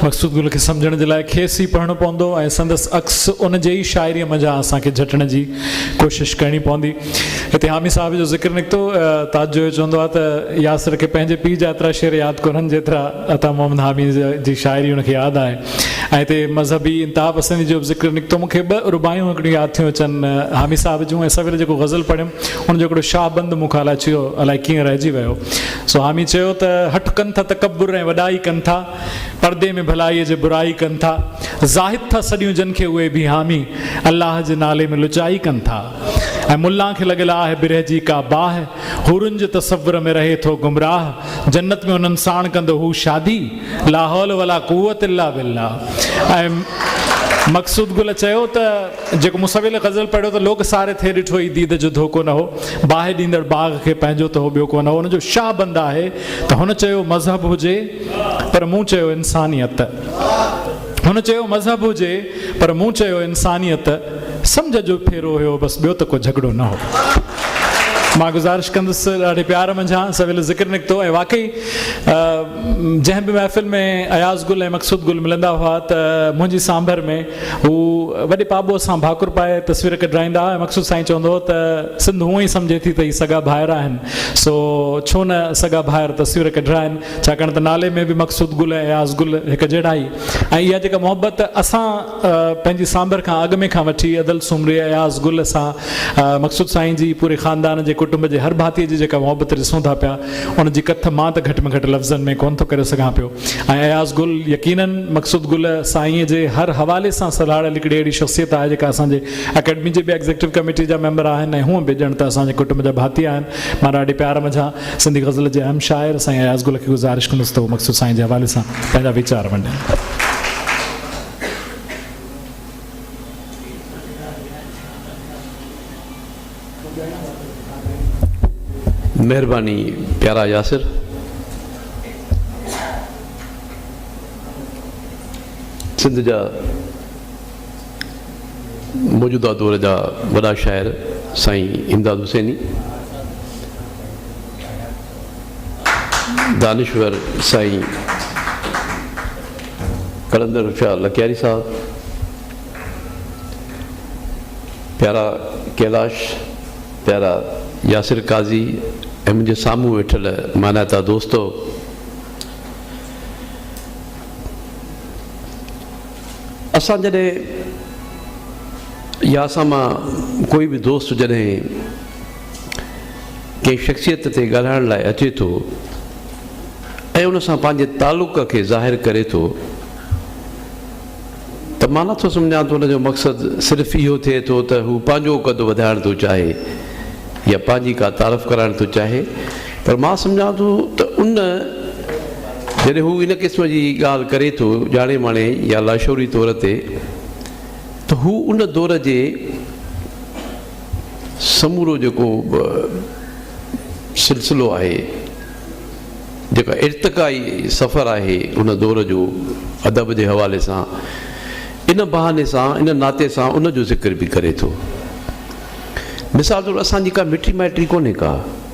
مقصود گل کي سمجھڻ جي لاء کيس ئي پڙهڻو پوندو ۽ سندس عڪس ان جي ئي شاعريء منجهان اسان کي جهٽڻ جي ڪوشش ڪرڻي پوندي هتي حامي صاحب جو ذڪر نڪتو تاج جويو چوندو آهي ته ياسر کي پنهنجي پيء جا ايترا شعر ياد ڪونهن جيترا عطا محمد حاميء جي شاعري هن کي ياد آهي ۽ هتي مذهبي انتها پسندي جو به ذڪر نڪتو. مون کي ٻه رباعيون هڪڙيون ياد ٿيون اچن، حامي صاحب جون ۽ سوير جيڪو غزل پڙهيم، ان جو هڪڙو شاهه بند مون کان الاچيو الائي ڪيئن رهجي ويو. سو حامي چيو ته، هٺ ڪن ٿا تڪبر ۽ وڏائي ڪن ٿا، پردي ۾ ڀلائيء جي برائي ڪن ٿا، زاهد ٿا سڏيون جن کي اهي به حامي، الله جي نالي ۾ لچائي ڪن ٿا ۽ ملان کي لڳل آهه برهه جي ڪا باهه، حورن جي تصور ۾ رهي ٿو گمراهه، جنت ۾ انهن ساڻ ڪندو هو شادي لاحول ولا قوت الا بالله ۽ مقصود گل چيو ته جيڪو مصويل غزل پڙهيو ته لوڪ ساري ٿي ڏٺو هي ديد جو ڌوڪو نه هو باهه ڏيندڙ باغ کي پنهنجو ته هو ٻيو ڪو نه هو ان جو شاه بند آهي ته هن چيو مذهب هجي پر مون چيو انسانيت هن چيو مذهب هجي پر مون چيو انسانيت سمجهه جو ڦيرو هيو بس ٻيو ته ڪو جهڳڙو نه هو. مان گذارش ڪندس ڏاڍي پيار منجهان سويل ذڪر نڪتو ۽ واقعي جنهن به محفل ۾ اياز گل ۽ مقصود گل ملندا هئا ته منهنجي سانڀر ۾ هو وڏي پاٻوهه سان ڀاڪر پائي تصوير ڪڍرائيندا هئا ۽ مقصود سائين چوندو هو ته سنڌ هونئن ئي سمجهي ٿي ته هي سڳا ڀائر آهن سو ڇو نه سڳا ڀائر تصوير ڪڍرائن ڇاڪاڻ ته نالي ۾ به مقصود گل ۽ اياز گل هڪ جهڙا ئي ۽ اها جيڪا محبت اسان پنهنجي سانڀر کان اڳ ۾ کان وٺي ادل سومري اياز گل سان مقصود سائين جي پوري خاندان جي ڪٽنب جي هر ڀاتي جي جيڪا محبت ڏسون ٿا پيا ان جي ڪٿ مان ته گهٽ ۾ گهٽ لفظن ۾ ڪونه ٿو ڪري سگهان پيو ۽ اياز گل يقيناً مقصود گل سائين جي هر حوالي سان سلهاڙيل هڪڙي اهڙي شخصيت آهي جيڪا اسان جي اڪيڊمي جي به ايگزيڪٽو ڪميٽي جا ميمبر آهن ۽ هونء به ڄڻ ته اسان جي ڪٽنب جا ڀاتي آهن مان ڏاڍي پيار منجهان سنڌي غزل جي اهم شاعر سائين اياز گل کي گذارش ڪندس ته هو مقصود سائين جي حوالي سان پنهنجا ويچار ونڊين. مهرباني پيارا ياسر سنڌ جا. موجوده دور جا وڏا شاعر سائين امداد حسيني، دانشور سائين قلندر شاهه لڪياري صاحب، پيارا ڪيلاش، پيارا ياسر قاضي ۽ منهنجي سامهون ويٺل مانائتا دوستو! اسان جڏهن يا اسان مان ڪوئي به دوست جڏهن ڪنهن شخصيت تي ڳالهائڻ لاء اچي ٿو ۽ ان سان پنهنجي تعلق کي ظاهر ڪري ٿو ته مان نٿو سمجهان ته ان جو مقصد صرف اهو ٿئي ٿو ته هو پنهنجو قد وڌائڻ ٿو چاهي يا پنهنجي ڪا تعارف ڪرائڻ ٿو چاهي پر مان سمجهان ٿو ته ان جڏهن هو ان قسم جي ڳالهه ڪري ٿو ڄاڻي ماڻي يا لاشعوري طور تي ته هو ان دور جي سمورو جيڪو به سلسلو آهي جيڪا ارتقائي سفر آهي ان دور جو ادب جي حوالي سان ان بهاني سان ان ناتي سان ان جو ذڪر به ڪري ٿو مثال طور اسان جي ڪا مٽي مائٽي ڪونهي ڪا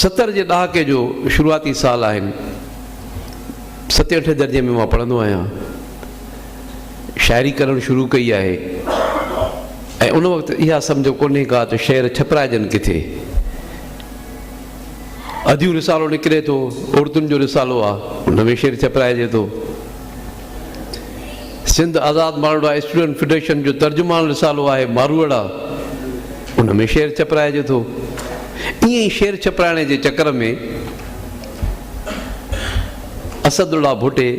ستر جي ڏهاڪي جو شروعاتي سال آهن ستين اٺين درجي ۾ مان پڙهندو آهيان شاعري ڪرڻ شروع ڪئي آهي ۽ ان وقت اها سمجهه ڪونهي ڪا ته شعر ڇپرائجن ڪٿي اديو رسالو نڪري ٿو عورتن جو رسالو آهي ان ۾ شعر ڇپرائجي ٿو سنڌ آزاد ماروئڙا اسٽوڊنٽ فيڊريشن جو ترجمان رسالو آهي ماروئڙا، ان ۾ شعر ڇپرائجي ٿو. ائين ئي شعر ڇپرائڻ جي چڪر ۾ اسد الله ڀٽي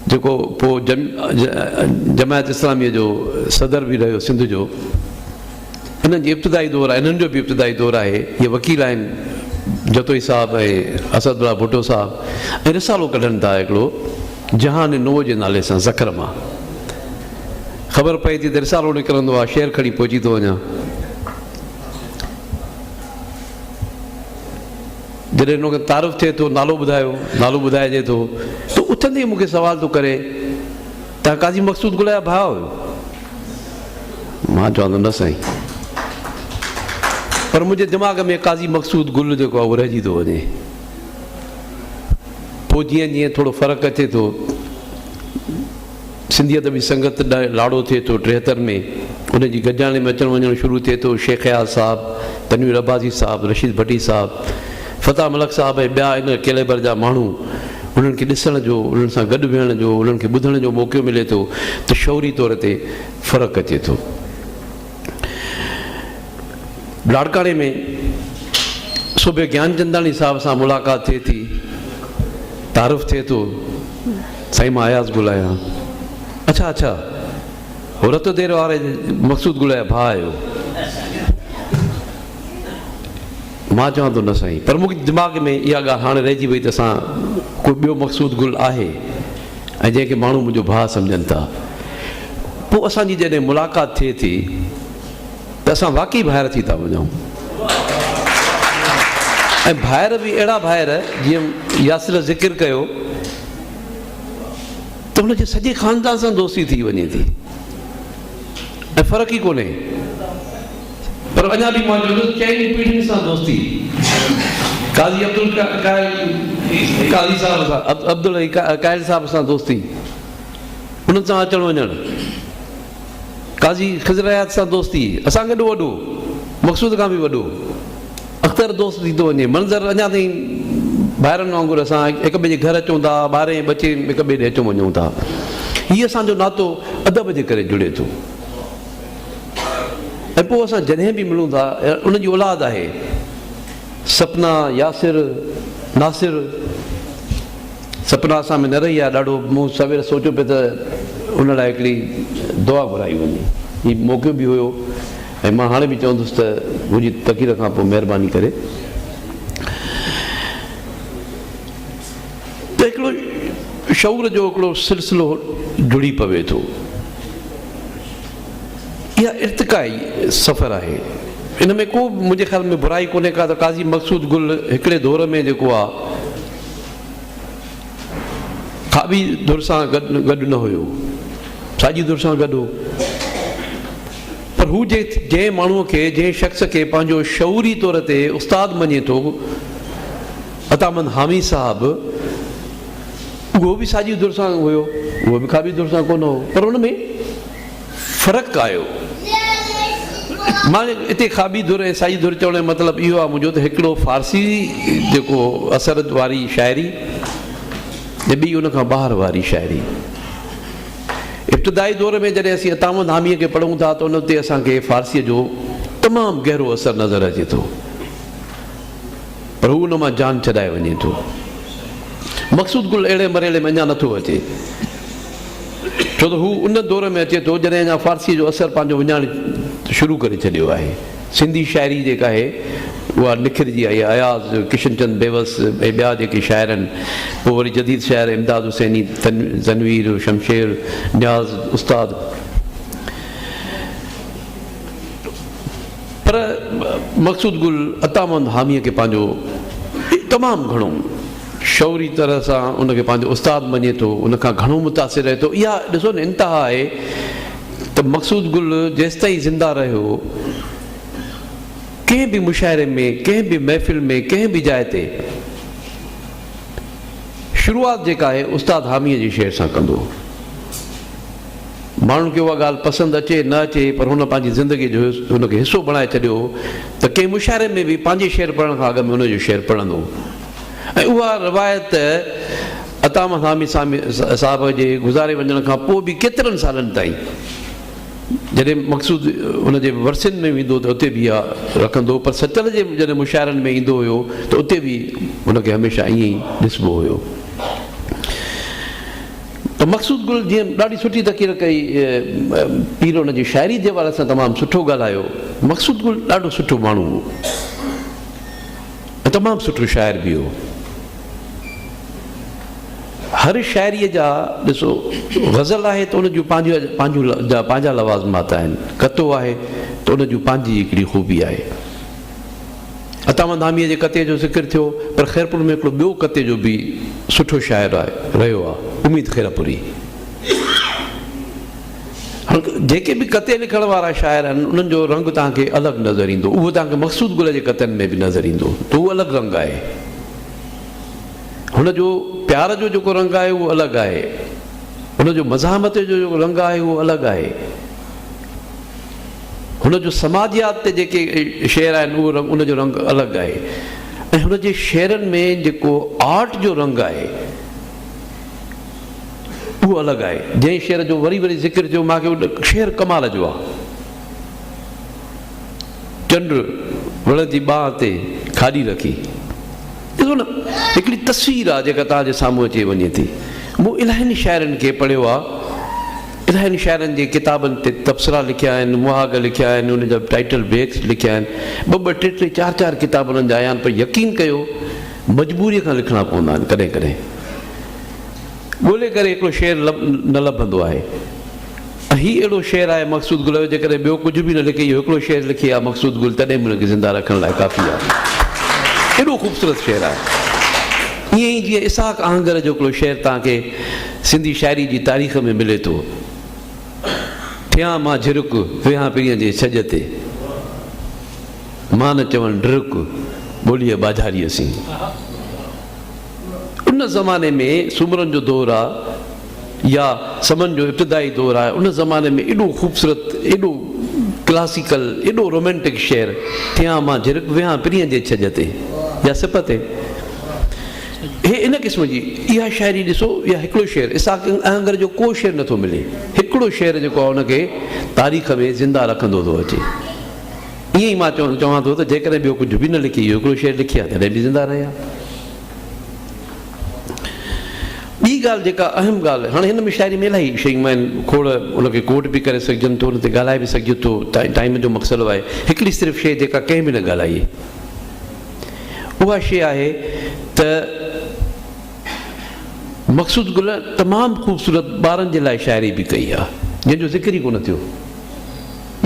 جيڪو پوء جماعت اسلاميء جو صدر به رهيو سنڌ جو، انهن جي ابتدائي دور آهي انهن جو به ابتدائي دور آهي جي وڪيل آهن جتوئي صاحب ۽ اسد الله ڀٽو صاحب ۽ رسالو ڪڍن ٿا هڪڙو جهان نوء جي نالي سان ذخر مان خبر پئي ٿي ته رسالو نڪرندو آهي شعر کڻي پهچي ٿو وڃان جڏهن ان کي تعارف ٿئي ٿو نالو ٻڌايو نالو ٻڌائجي ٿو ته اٿندي مون کي سوال ٿو ڪري تنهن قاضي مقصود گل جا ڀاء هيو؟ مان چوان ٿو نه سائين. پر منهنجي دماغ ۾ قاضي مقصود گل جيڪو آهي اهو رهجي ٿو وڃي. پوء جيئن جيئن ٿورو فرق اچي ٿو سنڌي ادبي سنگت لاڙو ٿئي ٿو ٽيهتر ۾ ان جي گڏجاڻي ۾ اچڻ وڃڻ شروع ٿئي ٿو شيخ اياز صاحب، تنوير عباسي صاحب، رشيد ڀٽي صاحب، فتح ملڪ صاحب ۽ ٻيا ان ڪيليبر جا ماڻهو انهن کي ڏسڻ جو، انهن سان گڏ ويهڻ جو، انهن کي ٻڌڻ جو موقعو ملي ٿو ته شعوري طور تي فرق اچي ٿو. لاڙڪاڻي ۾ سوڀي گيانچنداڻي صاحب سان ملاقات ٿئي ٿي، تعارف ٿئي ٿو، سائين مان اياز گل آهيان. اڇا اڇا هو رت دير واري مقصود گل جا ڀاء آهيو. مان چوان ٿو نه سائين، پر مون کي دماغ ۾ اها ڳالهه هاڻي رهجي وئي ته اسان ڪو ٻيو مقصود گل آهي ۽ جنهن کي ماڻهو منهنجو ڀاء سمجهن ٿا. پوء اسان جي جڏهن ملاقات ٿئي ٿي ته اسان واقعي ڀائر ٿي ٿا وڃون ۽ ڀائر به اهڙا ڀائر جيئن ياسر ذڪر ڪيو ته ان جي سڄي خاندان سان دوستي ٿي وڃي ٿي ۽ فرق ئي ڪونهي. پر اڃا به مانجو ته چئني پيڙهين سان دوستي قاضي عبدالقاهر قاضي صاحب سان عبدالقاهر صاحب سان دوستي انهن سان اچڻ وڃڻ قاضي خضر حيات سان دوستي اسان کي ايڏو وڏو مقصود کان به وڏو اختر دوست ٿي ٿو وڃي منظر اڃا تائين ڀائرن وانگر اسان هڪ ٻئي جي گهر اچون ٿا ٻارهين ٻچين هڪ ٻئي ڏي اچون وڃون ٿا هي اسانجو ناتو ادب جي ڪري جڙي ٿو ۽ پوء اسان جڏهن به ملون ٿا ان جي اولاد آهي سپنا ياسر ناصر سپنا اسان ۾ نه رهي آهي ڏاڍو مون سوير سوچيو پي ته ان لاء هڪڙي دعا گهرائي وڃي هي موقعو به هيو ۽ مان هاڻي به چوندس ته منهنجي تقرير کان پوء مهرباني ڪري ته هڪڙو شعور جو هڪڙو سلسلو جڙي پوي ٿو. اها ارتقائي سفر آهي. ان ۾ ڪو به منهنجي خيال ۾ برائي ڪونهي ڪا ته قاضي مقصود گل هڪڙي دور ۾ جيڪو آ کاٻي ڌر سان گڏ نه هيو، ساڄي ڌر سان گڏ هو. پر هو جنهن ماڻهوء کي، جنهن شخص کي پنهنجو شعوري طور تي استاد مڃي ٿو، عطا مند حامي صاحب اهو به ساڄي ڌر سان هيو اهو به کاٻي ڌر سان ڪونه هو پر ان ۾ فرق آيو مان اتي کاٻي ڌر ۽ ساڄي ڌر چوڻ جو مطلب اهو آهي منهنجو ته هڪڙو فارسي جيڪو اثر واري شاعري ۽ ٻي ان کان ٻاهر واري شاعري ابتدائي دور ۾ جڏهن اسين عطا مند حامي کي پڙهون ٿا ته ان تي اسان کي فارسي جو تمام گهرو اثر نظر اچي ٿو پر هو ان مان جان ڇڏائي وڃي ٿو. مقصود گل اهڙي مرحلي ۾ اڃا نٿو اچي، ڇو ته هو ان دور ۾ اچي ٿو جڏهن اڃا فارسيء جو اثر پنهنجو وڃائڻ شروع ڪري ڇڏيو آهي. سنڌي شاعري جيڪا آهي اها نکرجي آئي آهي. اياز، ڪشن چند بيوس ۽ ٻيا جيڪي شاعر آهن، پوء وري جديد شاعر امداد حسيني، تنوير، شمشير، نياز استاد، پر مقصود گل عطامند حاميء کي پنهنجو تمام گهڻو شعوري طرح سان ان کي پنهنجو استاد مڃي ٿو، ان کان گهڻو متاثر رهي ٿو. اها ڏسو نه انتها آهي ته مقصود گل جيستائين زنده رهيو، ڪنهن به مشاعري ۾، ڪنهن به محفل ۾، ڪنهن به جاء تي شروعات جيڪا آهي استاد حاميء جي شعر سان ڪندو هو. ماڻهن کي اها ڳالهه پسند اچي نه اچي پر هن پنهنجي زندگيء جو ان کي حصو بڻائي ڇڏيو هو ته ڪنهن مشاعري ۾ به پنهنجي شعر پڙهڻ کان اڳ ۾ انهيء جو شعر پڙهندو هو ۽ اها روايت عطا مدامي صاحب جي گذاري وڃڻ کان پوء به ڪيترن سالن تائين جڏهن مقصود ان جي ورسين ۾ ويندو ته اتي به اها رکندو پر سچل جي جڏهن مشاعرن ۾ ايندو هيو ته اتي به ان کي هميشه ائين ئي ڏسبو هيو. ته مقصود گل جيئن ڏاڍي سٺي تقرير ڪئي پير ان جي شاعري جي حوالي سان تمام سٺو ڳالهايو مقصود گل ڏاڍو سٺو ماڻهو هو ۽ تمام سٺو شاعر به هو هر شاعري جا ڏسو غزل آهي ته ان جون پنهنجون پنهنجا لوازمات آهن ڪتو آهي ته ان جون پنهنجي هڪڙي خوبي آهي عطا مند حاميء جي ڪتي جو ذڪر ٿيو، پر خيرپور ۾ هڪڙو ٻيو ڪتي جو به سٺو شاعر آهي، رهيو آهي، اميد خيرپوري. هاڻ جيڪي به ڪتي لکڻ وارا شاعر آهن، انهن جو رنگ توهان کي الڳ نظر ايندو. اهو توهان کي مقصود گل جي ڪتن ۾ به نظر ايندو ته اهو الڳ رنگ آهي. هن جو پيار جو جيڪو رنگ آهي، اهو الڳ آهي. هن جو مزاحمت جو جيڪو رنگ آهي، اهو الڳ آهي. هن جو سماجيات تي جيڪي شعر آهن ان جو رنگ الڳ آهي ۽ هن جي شعرن ۾ جيڪو آرٽ جو رنگ آهي اهو الڳ آهي جنهن شعر جو وري وري ذڪر ٿيو مان کي شعر ڪمال جو آهي چنڊ وڙ جي ٻانهن تي کاڏي رکي ڏسو نه هڪڙي تصوير آهي جيڪا تان جي سامهون اچي وڃي ٿي مون الاهين شاعرن کي پڙهيو آهي الاهين شاعرن جي ڪتابن تي تبصرا لکيا آهن، مهاڳ لکيا آهن، انهن جا ٽائيٽل بيڪس لکيا آهن. ٻه ٻه، ٽي ٽي، چار چار ڪتاب انهن جا آيا آهن، پر يقين ڪيو مجبوريء کان لکڻا پوندا آهن. ڪڏهن ڪڏهن ڳولي ڪري هڪڙو شعر نه لڀندو آهي ۽ هي اهڙو شعر آهي مقصود گل جو جيڪڏهن ٻيو ڪجهه به نه لکي اهو هڪڙو شعر لکي ها مقصود گل تڏهن به ان کي زنده رکڻ لاء ڪافي آهي. ايڏو خوبصورت شعر آهي. ائين ئي جيئن اسحاق آهنگر جو هڪڙو شعر توهان کي سنڌي شاعري جي تاريخ ۾ ملي ٿو. ٿيان مان جهرڪ، ويهان پرينء جي ڇڄ تي. مان نه چوان ڊرڪ، ٻوليء ٻاجهاريء سين. ان زماني ۾ سومرن جو دور آ يا سمن جو ابتدائي دور آ، ان زماني ۾ ايڏو خوبصورت، ايڏو ڪلاسيڪل، ايڏو رومانٽڪ شعر، ٿيان مان جهرڪ، ويهان پرينء جي ڇڄ تي يا سپ تي. هي ان قسم جي اها شاعري ڏسو يا هڪڙو شعر اسحاق اهنگر جو ڪو شعر نٿو ملي هڪڙو شعر جيڪو آهي ان کي تاريخ ۾ زنده رکندو ٿو اچي ائين ئي مان چون چوان ٿو ته جيڪڏهن ٻيو ڪجهه به نه لکي اهو هڪڙو شعر لکي ها تڏهن به زنده رهي ها ٻي ڳالهه جيڪا اهم ڳالهه هاڻي هن ۾ شاعري ۾ الاهي شيون آهن کوڙ ان کي ڪوٽ به ڪري سگهجن ٿو ان تي ڳالهائي به سگهجي ٿو ٽائيم جو مقصد آهي هڪڙي صرف شيء جيڪا ڪنهن به نه ڳالهائي اها شيء آهي ته مقصود گل تمام خوبصورت ٻارن جي لاء شاعري به ڪئي آهي، جنهن جو ذڪر ئي ڪونه ٿيو.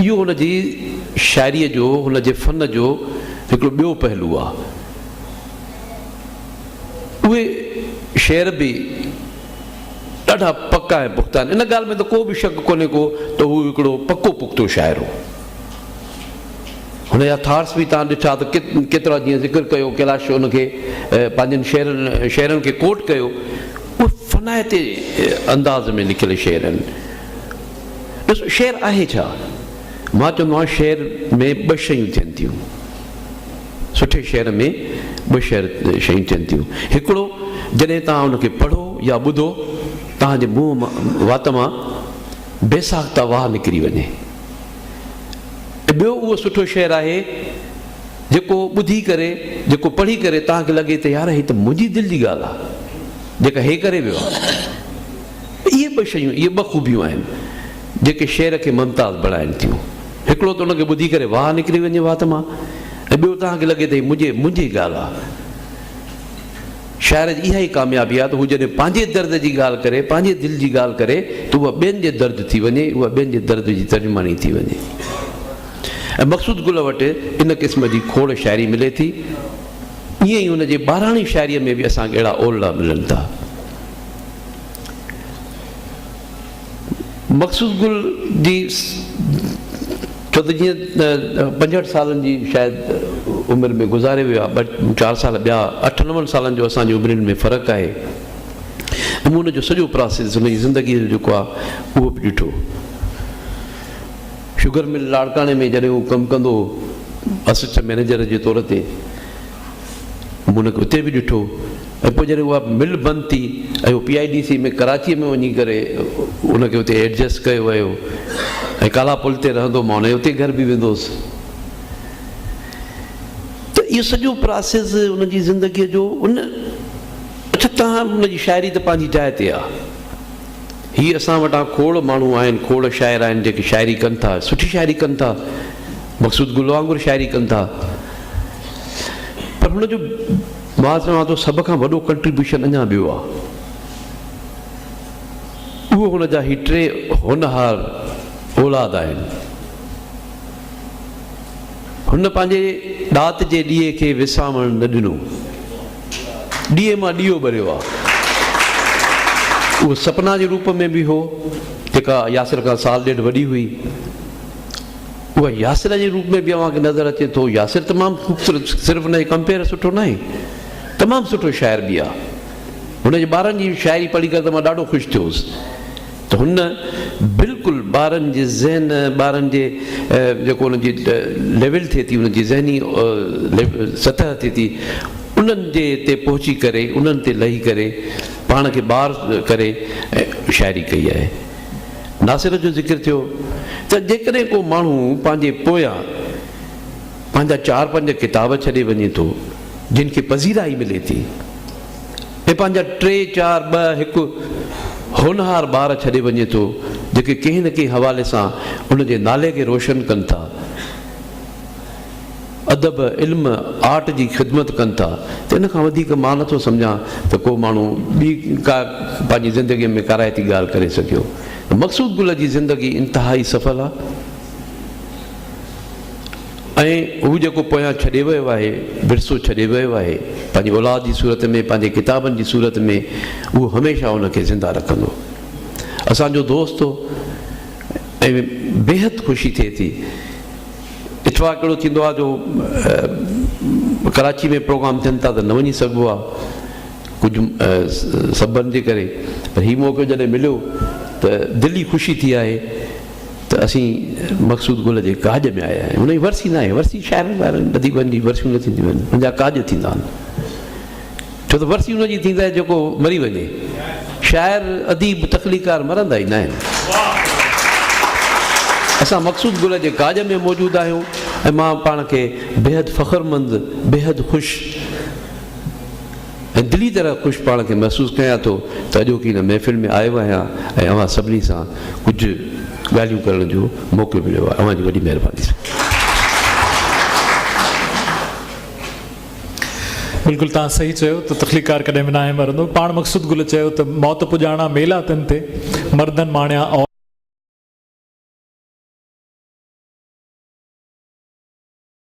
اهو هن جي شاعريء جو، هن جي فن جو هڪڙو ٻيو پهلو آهي. اهي شعر به ڏاڍا پڪا ۽ پختا آهن. ان ڳالهه ۾ ته ڪو به شڪ ڪونهي ڪو ته هو هڪڙو پڪو پختو شاعر هو. هن جا ٿارس به تان ڏٺا ته ڪيترا جيئن ذڪر ڪيو ڪيلاش ان کي پنهنجن شعرن شعرن کي ڪوٽ ڪيو اهي فنائتي انداز ۾ لکيل شعر آهن ڏس شعر آهي ڇا مان چوندو آهيان شعر ۾ ٻه شيون ٿين ٿيون سٺي شعر ۾ ٻه شعر شيون ٿين ٿيون هڪڙو جڏهن تان ان کي پڙهو يا ٻڌو تان جي منهن وات مان بيساخته واهه نڪري وڃي ۽ ٻيو اهو سٺو شعر آهي جيڪو ٻڌي ڪري جيڪو پڙهي ڪري توهان کي لڳي ته يار هي ته منهنجي دل جي ڳالهه آهي جيڪا هي ڪري ويو آهي اهي ٻه شيون اهي ٻه خوبيون آهن جيڪي شعر کي ممتاز بڻائن ٿيون هڪڙو ته ان کي ٻڌي ڪري واهه نڪري وڃي وات مان ۽ ٻيو توهان کي لڳي ته هي منهنجي منهنجي ڳالهه آهي شاعر جي اها ئي ڪاميابي آهي ته هو جڏهن پنهنجي درد جي ڳالهه ڪري، پنهنجي دل جي ڳالهه ڪري ته اها ٻين جي درد ٿي وڃي، اها ٻين جي درد جي ترجماني ٿي وڃي. ۽ مقصود گل وٽ ان قسم جي کوڙ شاعري ملي ٿي. ائين ئي هن جي ٻاراڻي شاعريء ۾ به اسان کي اهڙا اولڙا ملن ٿا. مقصود گل جي چوڌجي پنجهٺ سالن جي شايد عمر ۾ گذاري ويو آهي، ٻه چار سال ٻيا اٺ نون سالن جو اسان جي عمرين ۾ فرق آهي ۽ مون ان جو سڄو پراسيس ان جي زندگي جو جيڪو آهي اهو به ڏٺو. شگر مل لاڙڪاڻي ۾ جڏهن هو ڪم ڪندو هو اسسٽنٽ مئنيجر جي طور تي. مون کي اتي به ڏٺو ۽ پوء جڏهن اها مل بند ٿي ۽ هو پي آء ڊي سي ۾ ڪراچيء ۾ وڃي ڪري ان کي اتي ايڊجسٽ ڪيو ويو ۽ ڪالا پل تي رهندو مان ان جي اتي گهر به ويندو هوس ته اهو سڄو پراسيس ان جي زندگيء جو ان اڇا تان ان جي شاعري ته پنهنجي جاء تي آهي. هي اسان وٽان کوڙ ماڻهو آهن کوڙ شاعر آهن جيڪي شاعري ڪن ٿا سٺي شاعري ڪن ٿا مقصود گل وانگر شاعري ڪن ٿا پر هن جو مان چوان ٿو سڀ کان وڏو ڪنٽريبيوشن اڃا ٻيو آهي اهو هن جا هي ٽي هونهار اولاد آهن هن پنهنجي ڏات جي ڏيئي کي وسامڻ نه ڏنو. ڏيئي مان ڏيئو ٻريو آ. اهو سپنا جي روپ ۾ به هو، جيڪا ياسر کان سال ڏيڍ وڏي هئي. اها ياسر جي روپ ۾ به اوهان کي نظر اچي ٿو. ياسر تمام خوبصورت، صرف هن جو ڪمپيئر سٺو ناهي، تمام سٺو شاعر به آ. هن جي ٻارن جي شاعري پڙهي ڪري ته مان ڏاڍو خوش ٿيو هوس. هن بلڪل ٻارن جي ذهن ٻارن جي جيڪو ان جي ليول ٿئي ٿي ان جي ذهني سطح ٿئي ٿي انهن جي تي پهچي ڪري انهن تي لهي ڪري پاڻ کي بار ڪري ۽ شاعري ڪئي آهي. ناصر جو ذڪر ٿيو ته جيڪڏهن ڪو ماڻهو پنهنجي پويان پنهنجا چار پنج ڪتاب ڇڏي وڃي ٿو جن کي پذيرائي ملي ٿي. ۽ پنهنجا ٽي چار ٻه هڪ هونهار ٻار ڇڏي وڃي ٿو جيڪي ڪنهن نه ڪنهن حوالي سان ان جي نالي کي روشن ڪن ٿا ادب علم آرٽ جي خدمت ڪن ٿا ته ان کان وڌيڪ مان نٿو سمجهان ته ڪو ماڻهو ٻي ڪا پنهنجي زندگي ۾ ڪارائتي ڳالهه ڪري سگهيو مقصود گل جي زندگي انتهائي سڦل آهي. ۽ هو جيڪو پويان ڇڏي ويو آهي، ورثو ڇڏي ويو آهي، پنهنجي اولاد جي صورت ۾ پنهنجي ڪتابن جي صورت ۾ اهو هميشه ان کي زنده رکندو. اسان جو دوست هو ۽ بيحد خوشي ٿئي ٿي. اتفاق اهڙو ٿيندو آهي جو ڪراچي ۾ پروگرام ٿين ٿا ته نه وڃي سگهبو آهي ڪجهه سببن جي ڪري پر هي موقعو جڏهن مليو ته دلي خوشي ٿي آهي. ته اسين مقصود گل جي ڪاڄ ۾ آيا آهيون. هن جي ورسي ناهي. ورسي شاعرن وارن اديبن جي ورسيون نه ٿينديون آهن. هن جا ڪاڄ ٿيندا آهن. ڇو ته ورسي ان جي ٿيندي آهي جيڪو مري وڃي. شاعر، اديب، تخليقڪار مرندا ئي ناهن. اسان مقصود گل جي ڪاڄ ۾ موجود آهيون ۽ مان پاڻ کي بيحد فخرمند، بيحد خوش، ۽ دلي طرح خوش پاڻ کي محسوس ڪيان ٿو ته اڄوڪي هن محفل ۾ آيو آهيان ۽ اوهان سڀني سان ڪجهه ڳالهيون ڪرڻ جو موقعو مليو آهي اوهان جي وڏي مهرباني سان. بلڪل توهان صحيح چيو ته تخليقڪار ڪڏهن به ناهي مرندو پاڻ مقصود گل چيو ته موت پڄاڻا ميلا تن تي مردن ماڻيا او.